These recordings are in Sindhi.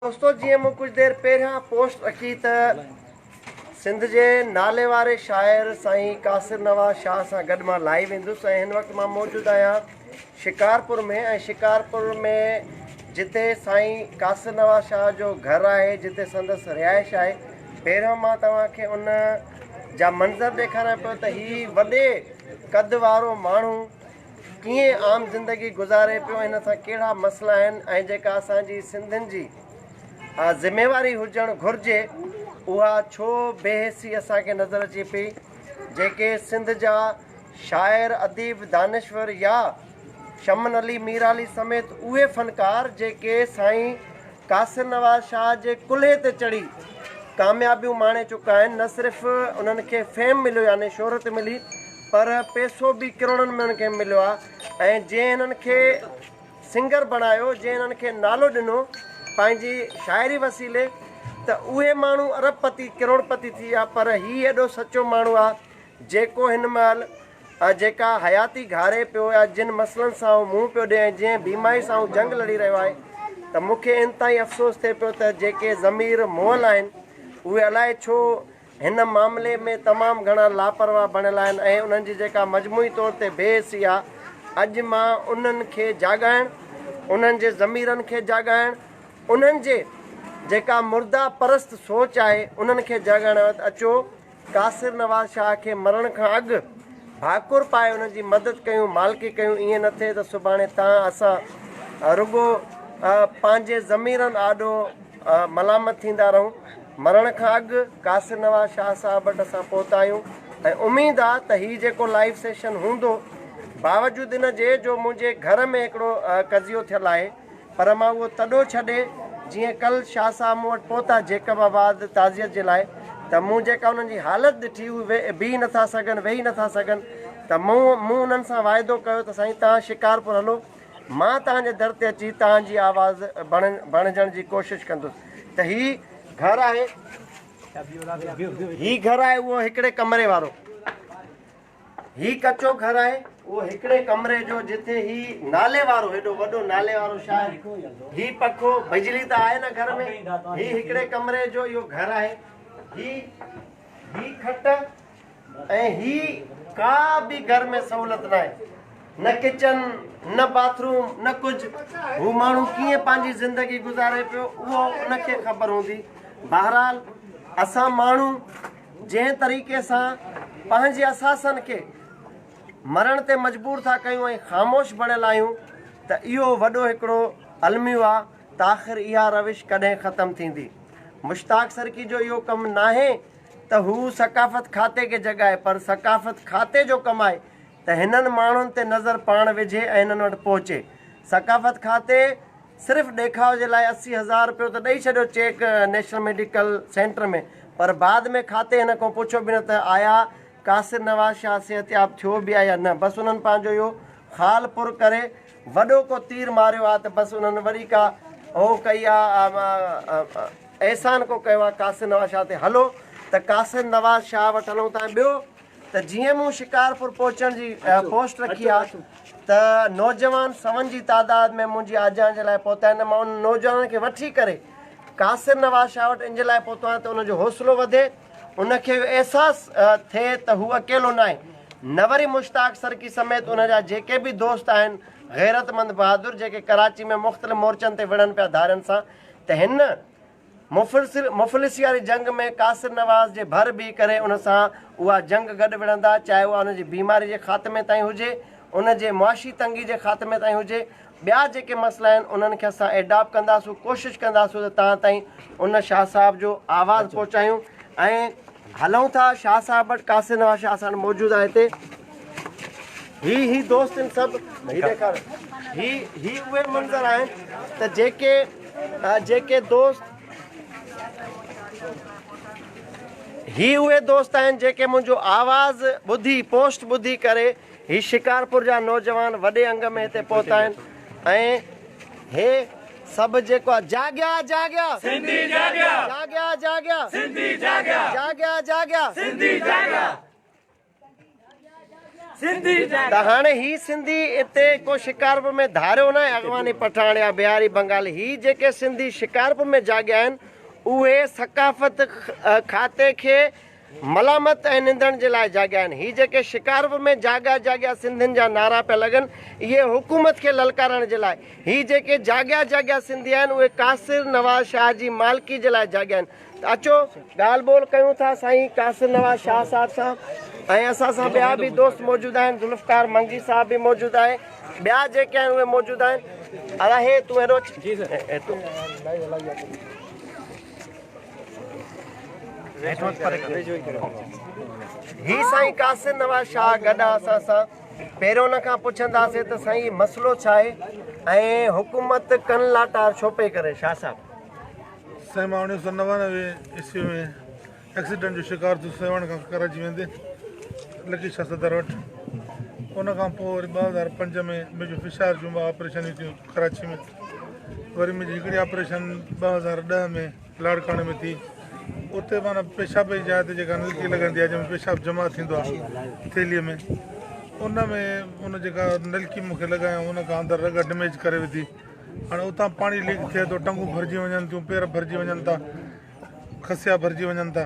دوستو جيئن مون ڪجھ دير پهريان پوسٽ رکي ته سنڌ جي ناليواري شاعر سائين قاصر نواز شاهه سان گڏ مان لائيو ايندس ۽ هن وقت مان موجود آهيان شڪارپور ۾ ۽ شڪارپور ۾ جتي سائين قاصر نواز شاهه جو گهر آهي جتي سندس رهائش آهي پهريان مان توهان کي ان جا منظر ڏيکاريان پيو ته هي وڏي قد وارو ماڻهو ڪيئن عام زندگي گذاري پيو هن سان ڪهڙا مسئلا آهن ۽ جيڪا اسان جي سنڌين جي ذميواري هجڻ گهرجي اها ڇو بي حسي اسان کي نظر اچي پئي جيڪي سنڌ جا شاعر اديب دانشور يا شمن علي مير علي سميت اهي فنڪار جيڪي سائين قاصر نواز شاهه جي ڪلهي تي چڙهي ڪاميابيون ماڻي چڪا آهن نه صرف انهن کي فيم مليو يعني شهرت ملي پر پيسو به ڪروڙن ۾ هنن کي مليو آهي ۽ جنهن هنن کي سنگر بڻايو جنهن هنن کي نالو ڏنو پنهنجي شاعري وسيلي ته اهي ماڻهو ارب پتي ڪروڙ پتي ٿي ويا پر هي ايڏو سچو ماڻهو آهي جيڪو هن مهل جيڪا حياتي گهاري پيو يا جن مسئلن سان هو منهن پيو ڏي ۽ جنهن بيماري سان هو جنگ لڙي رهيو آهي ته مون کي انتهائي افسوس ٿئي پيو ته جيڪي ضمير مئل آهن اهي الائي ڇو هن معاملي ۾ تمام گهڻا لاپرواهه بڻيل آهن ۽ انهن جي جيڪا مجموعي طور تي بي حسي آهي، اڄ مان انهن کي جاڳائڻ، انهن جي ضميرن کي جاڳائڻ، انهن جي جيڪا مرده پرست سوچ آهي، انهن کي جاڳائڻ آيو آهيان. اچو قاصر نواز شاهه کي مرڻ کان اڳ ڀاڪر پائي انهن جي مدد ڪيون، مالڪي ڪيون، ائين نه ٿئي ته سڀاڻي تان اسان رڳو پنهنجي ضميرن آڏو ملامت ٿيندا رهون. مرڻ کان اڳ قاصر نواز شاهه صاحب وٽ اسان پهتا آهيون ۽ اميد آ ته هي جيڪو لائيو سيشن هوندو باوجود ان جي جو منهنجي گهر ۾ هڪڙو قضيو ٿيل آهي پر مان اهو تڏو ڇڏي جيئن ڪل شاهه صاحب مون وٽ پهتا جيڪب آباد تعزيت جي لاء ته مون جيڪا انهن جي حالت ڏٺي هو بيهي نٿا سگهن ويهي نٿا سگهن ته مون انهن سان واعدو ڪيو ته سائين توهان شڪارپور هلو مان توهان جي در تي اچي توهان جي آواز بڻجڻ جي ڪوشش ڪندس ته هي گهر آهي. هي گهر آهي اهو هڪڙي ڪمري وارو. هي ڪچو گهر آهي اهو هڪڙي ڪمري جو جتي هي نالي وارو هيڏو وڏو نالي وارو شاعر هي پکو بجلي ته آهي نه گهر ۾ هي هڪڙي ڪمري جو اهو گهر آهي هي هي کٽ ۽ هي ڪا به گهر ۾ سهولت ناهي نه ڪچن نه باٿ روم نه ڪجهه هو ماڻهو ڪيئن پنهنجي زندگي گذاري پيو اهو ان کي خبر هوندي بهرحال اسان ماڻهو جنهن طريقي سان پنهنجي اثاثن کي مرڻ تي مجبور ٿا ڪيون ۽ خاموش بڻيل آهيون ته اهو وڏو هڪڙو الميو آ ته آخر اها روش ڪڏهن ختم ٿيندي مشتاق سرڪي جو اهو ڪم ناهي ته هو ثقافت کاتي کي جڳائي پر ثقافت کاتي جو ڪم آهي ته هنن ماڻهن تي نظر پاڻ وجهي ۽ هنن وٽ پهچي. ثقافت کاتي صرف ڏيکاء جي لاء اسي هزار رپيو ته ڏئي ڇڏيو چيڪ نيشنل ميڊيڪل سينٽر ۾ پر بعد ۾ کاتي هن کان پڇيو به نه ته آيا قاصر نواز شاهه صحتياب ٿيو به آهي يا نه بس انهن پنهنجو اهو خال پر ڪري وڏو ڪو تير ماريو آ ته بس انهن وري ڪا هو ڪئي آ احسان ڪو ڪيو آ قاصد نواز شاهه تي هلو ته قاصد نواز شاهه وٽ هلون ٿا ۽ ٻيو ته جيئن مون شڪارپور پهچڻ جي پوسٽ رکي آ ته نوجوان سون جي تعداد ۾ منهنجي آجيان جي لاء پهتا آهن ته مان انهن نوجوانن کي وٺي ڪري قاصد نواز شاهه وٽ ان جي لاء پهتو آهيان ته انهن جو حوصلو وڌي ان کي اهو احساس ٿئي ته هو اڪيلو ناهي نه وري مشتاق سرڪي سميت ان جا جيڪي به دوست آهن غيرتمند بهادر جيڪي ڪراچي ۾ مختلف مورچن تي وڙهن پيا ڌارين سان ته هن مفلسي واري جنگ ۾ قاصر نواز جي ڀر بيهي ڪري ان سان اها جنگ گڏ وڙهندا چاهي اها ان جي بيماري جي خاتمي تائين هجي ان جي معاشي تنگي جي خاتمي تائين هجي ٻيا جيڪي مسئلا آهن انهن کي اسان ايڊاپ ڪنداسون ڪوشش ڪنداسون ته تان تائين ان شاهه صاحب جو آواز پهچايون ۽ هلون ٿا شاهه صاحب وٽ قاصد نواز شاهه اسان موجود آهي هتي هي هي دوست ان سب هي ڏيکار هي هي اهي منظر آهن ته جيڪي جيڪي دوست هي اهي دوست آهن جيڪي منهنجو آواز ٻڌي پوسٽ ٻڌي ڪري هي شڪارپور جا نوجوان وڏي انگ ۾ هتي پهتا آهن ۽ هي سڀ جيڪو آهي جاڳيا جاڳيا سنڌي جاڳيا جاڳيا جاڳيا سنڌي جاڳيا جاڳيا جاڳيا سنڌي جاڳيا سنڌي جاڳيا ته هاڻي هي سنڌي اتي ڪو شڪارپور ۾ ڌاريو ناهي اغواني پٺاڻ يا بهاري بنگالي هي جيڪي سنڌي شڪارپور ۾ جاڳيا آهن اهي ثقافت کاتي کي ملامت ۽ نندڻ جي لاء جاڳيا آهن. هي جيڪي شڪارپور ۾ جاڳيا جاڳيا سنڌين جا نعرا پيا لڳن، اهي حڪومت کي للڪارڻ جي لاء. هي جيڪي جاڳيا جاڳيا سنڌي آهن، اهي قاصر نواز شاهه جي مالڪي جي لاء جاڳيا آهن. ته اچو ڳالهه ٻولهه ڪيون ٿا سائين قاصر نواز شاهه صاحب سان ۽ اسان سان ٻيا به دوست موجود آهن، ذوالفقار منگي صاحب به موجود آهي، ٻيا جيڪي آهن اهي موجود آهن. ادا هي تون هيڏو اچ. هي سائين قاصد نواز شاهه گڏ آ اسان سان پهريون ان کان پڇنداسين ته سائين هي مسئلو ڇا آهي ۽ حڪومت ڪن لاٽار ڇو پئي ڪري شاهه صاحب. سائين مان اوڻيھ سؤ نوانوي عيسوي ۾ ايڪسيڊنٽ جو شڪار ٿيس سيوهڻ کان ڪراچي ويندي لڪي شاهه صدر وٽ ان کان پوء وري ٻه هزار پنج ۾ ميجو فشار جون ٻه آپريشنيون ٿيون ڪراچي ۾ وري منهنجي هڪڙي آپريشن ٻه هزار ڏهه ۾ لاڙڪاڻي ۾ ٿي اتي مانا پيشاب جي جاء تي جيڪا نلڪي لڳندي آهي جنهن ۾ پيشاب جمع ٿيندو آهي ٿيلي ۾ ان ۾ ان جيڪا نلڪي مون کي لڳايو ان کان اندر رڳ ڊميج ڪري وڌي هاڻي اتان پاڻي ليڪ ٿئي ٿو ٽنگون ڀرجي وڃن ٿيون پير ڀرجي وڃن ٿا کسيا ڀرجي وڃن ٿا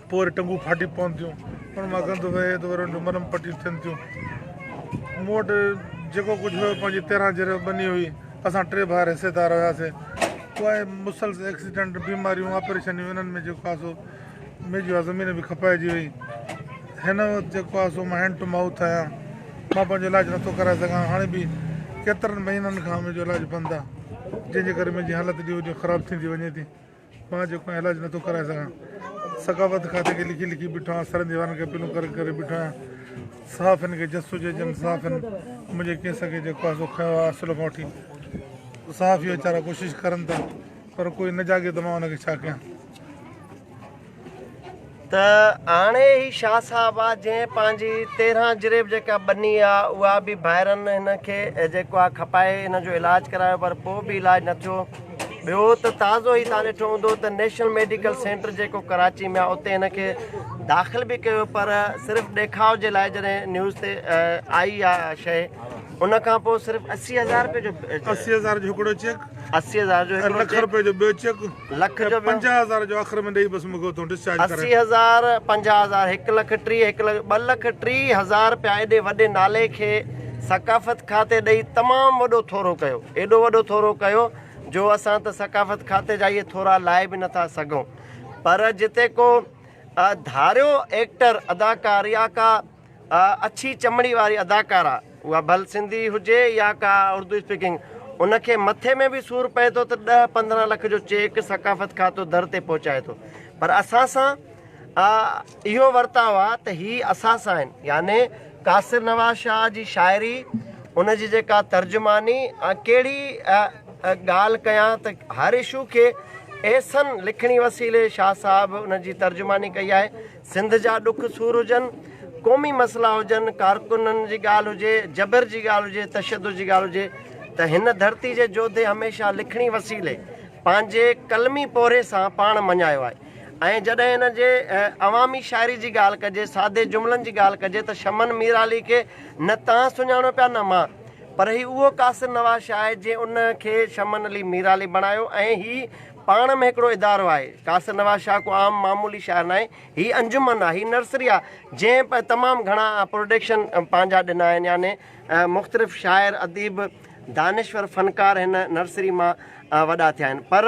پوء وري ٽنگون ڦاٽي پون ٿيون ان مان گند وهي ته وري ان جون مرم پٽيون ٿين ٿيون مون وٽ جيڪو ڪجهه هيو پنهنجي تيرهن جريو ٻني هئي اسان ٽي ڀائر حصيدار هياسي پوء مسلس ايڪسيڊنٽ بيماريون آپريشنيون انهن ۾ جيڪو آسو ميجي زمين به کپائجي وئي هن وقت جيڪو آهي سو مان هينڊ ٽو مائوٿ آهيان مان پنهنجو علاج نٿو ڪرائي سگهان هاڻي به ڪيترن مهينن کان منهنجو علاج بند آهي جنهن جي ڪري منهنجي حالت ڏينهون ڏينهن خراب ٿيندي وڃي ٿي مان جيڪو آهي علاج نٿو ڪرائي سگهان ثقافت کاتي کي لکي لکي بيٺو آهيان سرن ديوارن کي اپيلون ڪري ڪري بيٺو آهيان صاف هن کي جس هجي جن صاف هن منهنجي ڪيس کي جيڪو آهي سو کنيو آهي اصل کان وٺي صاف هي ويچارا ڪوشش ڪرن ٿا پر ڪوئي نه جاڳي ته مان هن کي ڇا ڪيان ته هاڻي هي شاهه صاحب آ جنهن پنهنجي تيرهن جريب جيڪا ٻني آ اها به ڀائرن هن کي جيڪو آ کپائي هن جو علاج ڪرايو پر پوء به علاج نه ٿيو ٻيو ته تازو هي تان ڏٺو هوندو ته نيشنل ميڊيڪل سينٽر جيڪو ڪراچي ۾ آ اتي هن کي داخل به ڪيو پر صرف ڏيکاء جي لاء جڏهن نيوز تي آئي آ شيء ان کان پوء صرف اسي هزار روپيه جو اسي هزار جو هڪڙو چيڪ اسي هزار جو هڪڙو چيڪ لک روپيه جو ٻيو چيڪ لک جو ٻيو. پنجاهه هزار جو آخر ۾ ڏئي بس مون کي اتان ڊسچارج ڪرائي. اسي هزار، پنجاهه هزار، هڪ لک ٽيهه، هڪ لک، ٻه لک ٽيهه هزار رپيا ايڏي وڏي نالي کي ثقافت کاتي ڏئي تمام وڏو ٿورو ڪيو. ايڏو وڏو ٿورو ڪيو جو اسان ته ثقافت کاتي جا اهي ٿورا لائي به نه ٿا سگهون. پر جتي ڪو ڌاريو ايڪٽر، اداڪار يا ڪا اڇي چمڙي واري اداڪارا اها ڀل سنڌي هجي يا ڪا اردو اسپيڪنگ ان کي مٿي ۾ به سور پئي ٿو ته ڏهه پندرهن لک جو چيڪ ثقافت کاتو در تي پهچائي ٿو پر اسان سان اهو ورتاء آهي ته هي اسان سان آهن يعني قاصر نواز شاهه جي شاعري ان جي جيڪا ترجماني ڪهڙي ڳالهه ڪيان ته هر اشو کي احسن لکڻي وسيلي شاهه صاحب ان جي ترجماني ڪئي آهي سنڌ جا ڏک سور هجن، قومي مسئلا هجن، ڪارڪنن جي ڳالهه هجي، جبر جي ڳالهه هجي، تشدد جي ڳالهه هجي ته هن ڌرتي جي جوڌي هميشه لکڻي وسيلي پنهنجي قلمي پورهيي سان پاڻ مڃايو آهي ۽ جڏهن هن جي عوامي شاعري جي ڳالهه ڪجي، سادي جملن جي ڳالهه ڪجي ته شمن ميرعلي کي نه تان سڃاڻو پيا نه مان پر هي اهو قاصر نواز شاهه آهي جنهن ان کي شمن علي ميرعلي بڻايو ۽ هي پاڻ ۾ هڪڙو ادارو آهي. قاصر نواز شاهه ڪو عام معمولي شاعر ناهي. هي انجمن آهي. هي نرسري آهي. جنهن تمام گهڻا پروڊڪشن پنهنجا ڏنا آهن. يعني مختلف شاعر، اديب، دانشور، فنڪار هن نرسري مان وڏا ٿيا آهن. پر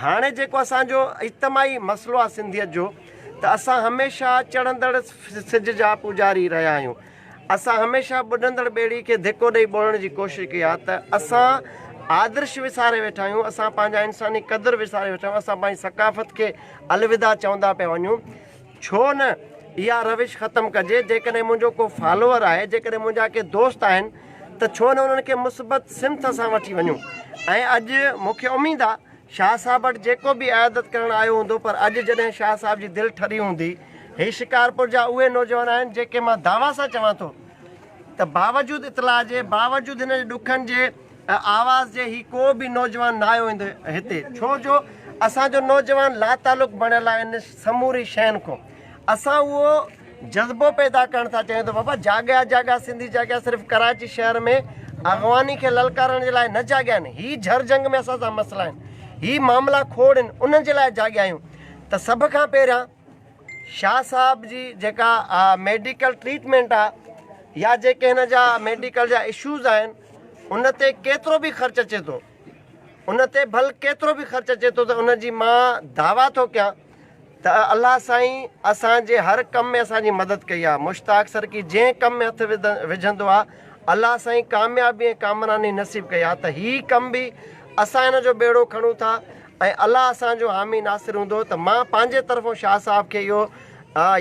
هاڻي جيڪو اسان جو اجتماعي مسئلو آهي سنڌيت جو ته اسان هميشه چڙهندڙ سج جا پوڄاري رهيا آهيون. اسان هميشه ٻڏندڙ ٻيڙي کي ڌڪو ڏئي ٻوڙڻ جي ڪوشش ڪئي آهي ته اسان آدرش وساري ويٺا آهيون، اسان پنهنجا انساني قدر وساري ويٺا آهيون، اسان پنهنجي ثقافت کي الوداع چوندا پيا وڃون، ڇو نه اها روش ختم ڪجي، جيڪڏهن منهنجو ڪو فالوور آهي، جيڪڏهن منهنجا ڪي دوست آهن ته ڇو نه انهن کي مثبت سمت سان وٺي وڃون ۽ اڄ مون کي اميد آهي. شاهه صاحب وٽ جيڪو به عيادت ڪرڻ آيو هوندو پر اڄ جڏهن شاهه صاحب جي دل ٺري هوندي. هي شڪارپور جا اهي نوجوان آهن جيڪي مان دعويٰ سان چوان ٿو ته باوجود اطلاع جي باوجود هن جي ڏکن جي آواز جي هي ڪو به نوجوان نه آيو هوندو هتي ڇو جو اسان جو نوجوان لاتعلق بڻيل آهن سموري شين کون. اسان اهو جذبو پيدا ڪرڻ ٿا چاهيون ته بابا جاڳيا جاڳيا سنڌي جاڳيا صرف ڪراچي شهر ۾ اغواني کي للڪارڻ جي لاء نه جاڳيا آهن هي جھر جنگ ۾ اسان سان مسئلا آهن هي معاملا کوڙ آهن انهن جي لاء جاڳيا آهيون ته سڀ کان پهريان شاهه صاحب جي جيڪا ميڊيڪل ٽريٽمينٽ آهي يا جيڪي هن جا ميڊيڪل جا اشوز آهن ان تي ڪيترو به خرچ اچي ٿو ان تي ڀل ڪيترو به خرچ اچي ٿو ته ان جي مان دعويٰ ٿو ڪيان ته الله سائين اسان جي هر ڪم ۾ اسان جي مدد ڪئي آهي مشتاق سرڪي جنهن ڪم ۾ هٿ وجهندو آهي الله سائين ڪاميابي ۽ ڪامراني نصيب ڪئي آهي ته هي ڪم به اسان هن جو ٻيڙو کڻون ٿا ۽ الله اسان جو حامي ناصر هوندو ته مان پنهنجي طرفون شاهه صاحب کي اهو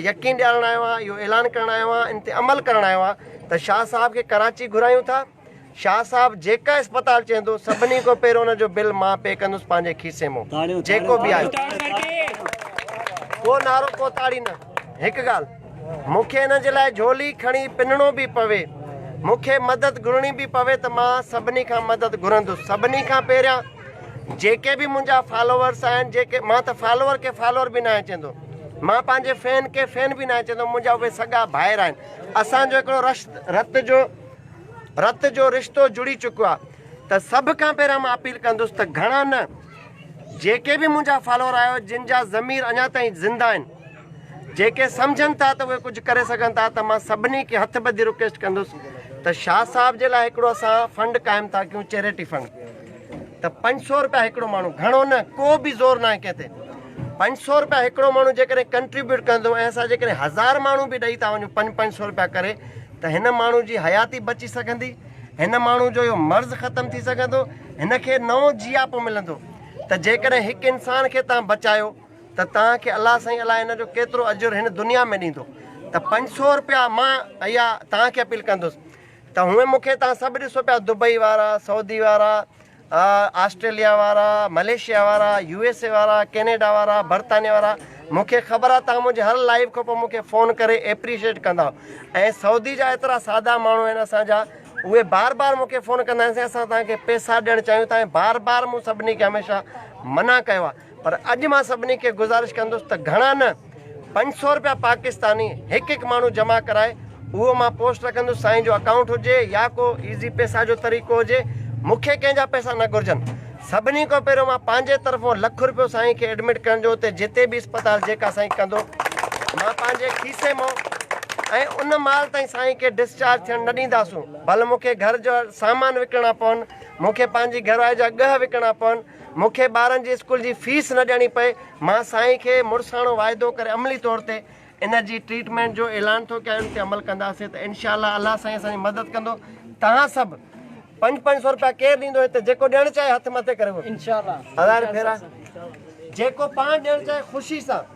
يقين ڏيارڻ آيو آهيان اهو اعلان ڪرڻ آيو آهيان ان تي عمل ڪرڻ آيو آهيان ته شاهه صاحب کي ڪراچي گهرايون ٿا شاهه صاحب جيڪا اسپتال چهندو سڀني کان پهريون ان جو بل مان پي ڪندس پنهنجي کيسي مون جيڪو به آيو ڪو نارو ڪو تاڙي نه هڪ ڳالهه مون کي ان جي لاء جھولي کڻي پنڻو به پوي مون کي مدد گھرڻي به پوي ته مان سڀني کان مدد گھرندس سڀني کان پهريان جيڪي به منهنجا فالوورس آهن جيڪي مان ته فالوور کي فالوور به ناهي چهندو مان پنهنجي فين کي فين به ناهي چهندو منهنجا اهي سڳا ڀائر آهن اسان جو هڪڙو رشت رت جو رت جو رشتو جڙي چڪو آ ته سڀ کان پهريان مان اپيل ڪندس ته گهڻا نه جيڪي به منهنجا فالوور آهيو جن جا ضمير اڃا تائين زنده آهن جيڪي سمجهن ٿا ته اهي ڪجهه ڪري سگهن ٿا ته مان سڀني کي هٿ ٻڌي رڪويسٽ ڪندس ته شاهه صاحب جي لاء هڪڙو اسان فنڊ قائم ٿا ڪيون چيريٽي فنڊ ته پنج سو روپيا هڪڙو ماڻهو گهڻو نه ڪو به زور نه آهي ڪنهن تي پنج سو روپيا هڪڙو ماڻهو جيڪڏهن ڪنٽريبيوٽ ڪندو ۽ اسان جيڪڏهن هزار ماڻهو به ڏئي ٿا وڃون پنج پنج سو روپيا ڪري ته هن ماڻهو جي حياتي بچي سگهندي، هن ماڻهو جو اهو مرض ختم ٿي سگهندو، هن کي نئون جياپو ملندو ته جيڪڏهن هڪ انسان کي توهان بچايو ته توهان کي الله سائين الاء ان جو ڪيترو اجر هن دنيا ۾ ڏيندو ته پنج سؤ روپيا مان اها توهان کي اپيل ڪندس ته هونئن مون کي توهان سڀ ڏسو پيا دبئي وارا، سعودي وارا، آسٽريليا وارا، ملائيشيا وارا، يو ايس اي وارا، ڪينيڊا وارا، برطانيا وارا مون کي خبر آ تهان منهنجي هر لائيو کان پوء مون کي فون ڪري ايپريشيٽ ڪندا ۽ سعودي جا ايترا سادا ماڻهو آهن اسان جا اهي بار بار مون کي فون ڪندا آهن سائين اسان تهان کي پيسا ڏيڻ چاهيون ٿا ۽ بار بار مون سڀني کي هميشه منع ڪيو آ پر اڄ مان سڀني کي گذارش ڪندس ته گهڻا نه پنج سئو روپيا پاڪستاني هڪ هڪ ماڻهو جمع ڪرائي اهو مان پوسٽ رکندس سائين جو اڪائونٽ هجي يا ڪو ايزي پيسا جو طريقو هجي مونکي ڪنهن جا پيسا نه گهرجن سڀني کان پهريون مان پنهنجي طرفون لک روپيو سائين کي ايڊمٽ ڪرڻ جو اتي جتي به اسپتال جيڪا سائين ڪندو مان پنهنجي کيسي مئو ۽ ان مال تائين سائين کي ڊسچارج ٿيڻ نه ڏينداسون ڀل مونکي گهر جو سامان وڪڻڻا پون مونکي پنهنجي گهرواري جا ڳهه وڪڻڻا پون مون کي ٻارن جي اسڪول جي فيس نه ڏيڻي پئي، مان سائين کي مڙساڻو واعدو ڪري عملي طور تي ان جي ٽريٽمينٽ جو اعلان ٿو ڪيان ان تي عمل ڪنداسين ته انشاء الله الله سائين اسان جي مدد ڪندو توهان سڀ پنج پنج سو روپيا ڪير ڏيندو هتي جيڪو ڏيڻ چاهي هٿ مٿي ڪري وٺو انشاء الله هزار ڦيرا جيڪو پاڻ ڏيڻ چاهي خوشي سان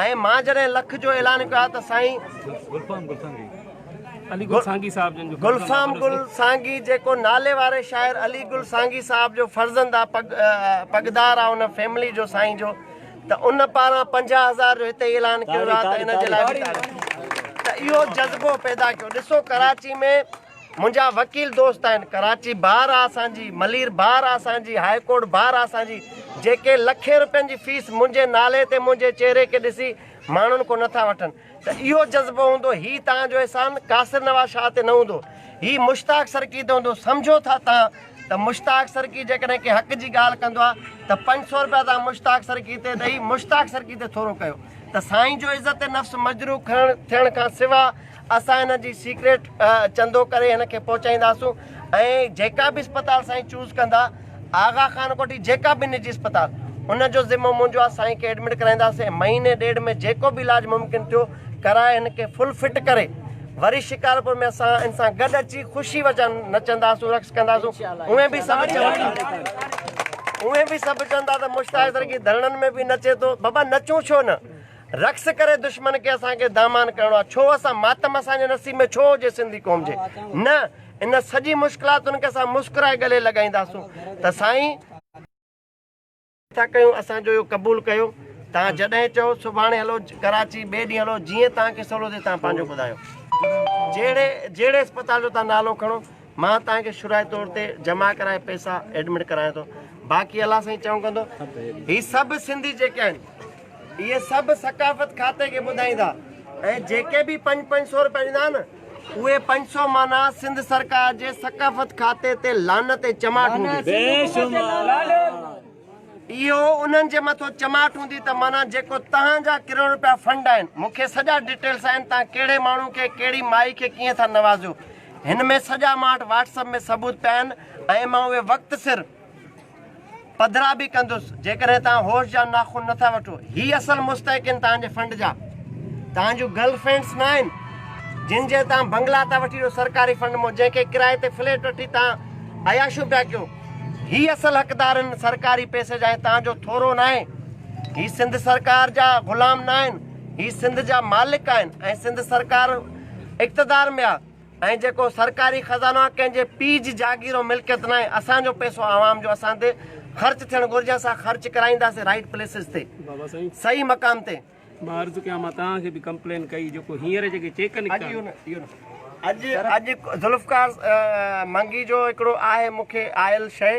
۽ مان جڏهن لک جو اعلان ڪيو آهي ته سائين گلفام گل سانگي جيڪو نالي واري شاعر علي گل سانگي صاحب جو فرزند آ پڳ پڳدار آ ان فيملي جو سائين جو ته ان پاران پنجاهه هزار جو هتي اعلان ڪيو ويو آ ته ان جي لاء ته اهو جذبو پيدا ڪيو ڏسو ڪراچي ۾ منهنجا وڪيل دوست آهن ڪراچي بار آ اسان جي ملير بار آ اسان جي هاء ڪورٽ بار آ اسان جي جيڪي لکين روپين جي فيس منهنجي نالي تي منهنجي چهري کي ڏسي ماڻهن کون نٿا وٺن ته اهو جذبو هوندو هي توهان جو احسان قاصر نواز شاهه تي نه هوندو هي مشتاق سرڪي تي هوندو سمجهو ٿا توهان ته مشتاق سرڪي جيڪڏهن ڪنهن حق جي ڳالهه ڪندو آ ته پنج سو روپيا توهان مشتاق سرڪي تي ڏئي مشتاق سرڪي تي ٿورو ڪيو ته سائين جو عزت نفس مجروح کڻڻ ٿيڻ کان سوا اسان هن جي سيڪريٽ چندو ڪري هن کي پهچائينداسون ۽ جيڪا به اسپتال سائين چوز ڪندا آغا خان ڪوٺي جيڪا به نجي اسپتال ان جو ذمو منهنجو آ سائين کي ايڊمٽ ڪرائينداسين مهيني ڏيڍ ۾ جيڪو به علاج ممڪن ٿيو ڪرائي هن کي فل فٽ ڪري وري شڪارپور ۾ اسان ان سان گڏ اچي خوشي وچن نچنداسون رقص ڪنداسون اوهين به سڀ چوندا اوهين به سڀ چوندا ته مشتاق درگي ڌرڻن ۾ به نچي ٿو بابا نچون ڇو نه رقص ڪري دشمن کي اسان کي دامان ڪرڻو آ ڇو اسان ماتم اسان جي نصيب ۾ ڇو هجي سنڌي قوم جي نه ان سڄي مشڪلاتن کي اسان مسڪرائي گلي لڳائينداسون ته سائين ٿا ڪيون اسان جو اهو قبول ڪيو تان جڏهن چئو سڀاڻي هلو ڪراچي ٻئي ڏينهن هلو جيئن تان کي سولو ٿي تان پنهنجو ٻڌايو جهڙي جهڙي اسپتال جو تان نالو کڻو مان تان کي شرائي طور تي جمع ڪرائي پئسا ايڊمٽ ڪرايان ٿو باقي الله سائين چئون ڪندو هي سڀ سنڌي جيڪي آهن اهي سڀ ثقافت کاتي کي ٻڌائيندا ۽ جيڪي به پنج پنج سو روپيا ڏيندا نه اهي پنج سو مانا سنڌ سرڪار جي ثقافت کاتي تي لعنت ۽ چماٽ هوندي. اهو انهن جي مٿو چماٽ هوندي ته مانا جيڪو تهان جا ڪروڙ روپيا فنڊ آهن مون کي سڄا ڊيٽيلس آهن تهان ڪهڙي ماڻهو کي ڪهڙي مائي کي ڪيئن ٿا نوازيو هن ۾ سڄا مان وٽ واٽس اپ ۾ ثبوت پيا آهن ۽ مان اهي وقت سر پڌرا به ڪندس جيڪڏهن توهان هوش جا ناخن نٿا وٺو هي اصل مستحق آهن توهان جي فنڊ جا توهان جون گرل فرينڊس نه آهن جن جي توهان بنگلا ٿا وٺي ڏيو سرڪاري فنڊ مون جنهن کي ڪرائي تي فليٽ وٺي توهان عياشو پيا ڪيو هي اصل حقدار آهن سرڪاري پيسي جا توهان جو ٿورو نه آهي هي سنڌ سرڪار جا غلام نه آهن هي سنڌ جا مالڪ آهن ۽ سنڌ سرڪار اقتدار ۾ آهي ۽ جيڪو سرڪاري خزانو آهي ڪنهن جي پيء جي جاگير ۽ ملڪيت ناهي اسان جو پئسو عوام جو اسان تي خرچ ٿيڻ گهرجي اسان خرچ ڪرائينداسين رائيٽ پليسز تي صحيح مقام تي. مان عرض ڪيان مان توهان کي به ڪمپلين ڪئي جيڪو هينئر جيڪي چيڪ نڪتا. اڄ ذوالفقار منگي جو هڪڙو آهي مون کي آيل شيء.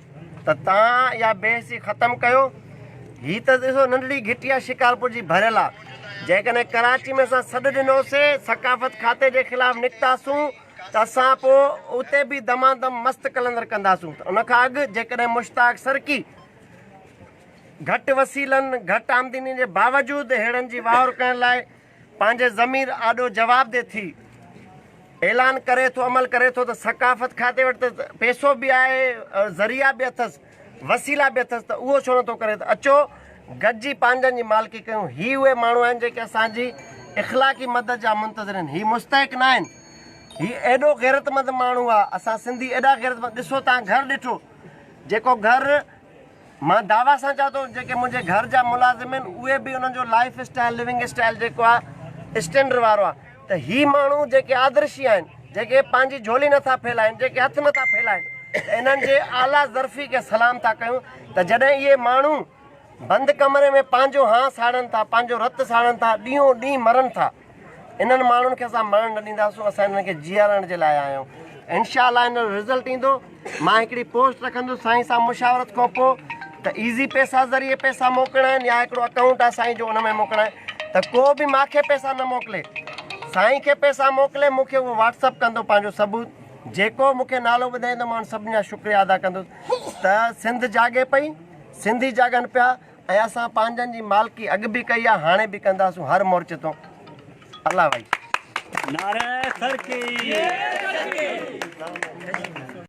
ته تان اها بي حسي ختم ڪيو. هي ته ڏسو ننڍڙي گهٽي آهي شڪارپور جي ڀريل آ. جيڪڏهن ڪراچي ۾ اسان سڏ ڏنو سي ثقافت کاتي جي خلاف نڪتا سون ته اسان پو اتي به دما دم مست قلندر ڪندا سون ته ان کان اڳ جيڪڏهن مشتاق سرڪي گهٽ وسيلن گهٽ آمدني جي باوجود هيڙن جي واهور ڪرڻ لاء پنهنجي ضمير آڏو جواب ڏي ٿي اعلان ڪري ٿو عمل ڪري ٿو ته ثقافت کاتي وٽ ته پيسو به آهي ذريعا به اٿس وسيلا به اٿس ته اهو ڇو نه ٿو ڪري ته اچو گڏجي پنهنجن جي مالڪي ڪيون هي اهي ماڻهو آهن جيڪي اسان جي اخلاقي مدد جا منتظر آهن هي مستحق نه آهن هي ايڏو غيرتمند ماڻهو آهي اسان سنڌي ايڏا غيرتمند ڏسو تان گهر ڏٺو جيڪو گهر مان دعويٰ سان چوان ٿو جيڪي منهنجي گهر جا ملازم آهن اهي به انهن جو لائيف اسٽائيل لوينگ اسٽائيل جيڪو آهي اسٽينڊر وارو آهي ته هي ماڻهو جيڪي آدرشي آهن جيڪي پنهنجي جهولي نٿا ڦهلائين جيڪي هٿ نٿا ڦهلائين ته انهن جي اعليٰ ظرفي کي سلام ٿا ڪيون ته جڏهن اهي ماڻهو بند ڪمري ۾ پنهنجو هانء ساڙن ٿا پنهنجو رت ساڙن ٿا ڏينهون ڏينهن مرن ٿا. انهن ماڻهن کي اسان مرڻ نه ڏينداسون اسان انهن کي جيارڻ جي لاء آيا آهيون انشاء الله ان جو رزلٽ ايندو مان هڪڙي پوسٽ رکندس سائين سان مشاورت کان پوء ته ايزي پيسا ذريعي پيسا موڪلڻا آهن يا هڪڙو اڪائونٽ آهي سائين جو ان ۾ موڪلڻا آهن ته ڪو به ماکي پيسا نه موڪلي سائين کي پيسا موڪلي مونکي اهو واٽس اپ ڪندو پنهنجو ثبوت جيڪو مونکي نالو ٻڌائيندو مان سڀني جا شڪريا ادا ڪندس ته سنڌ جاڳي پئي سنڌي جاڳن پيا ۽ اسان پنهنجن جي مالڪي اڳ به ڪئي آ هاڻي به ڪنداسون هر مورچي تون الله وائي. نعره ترقي.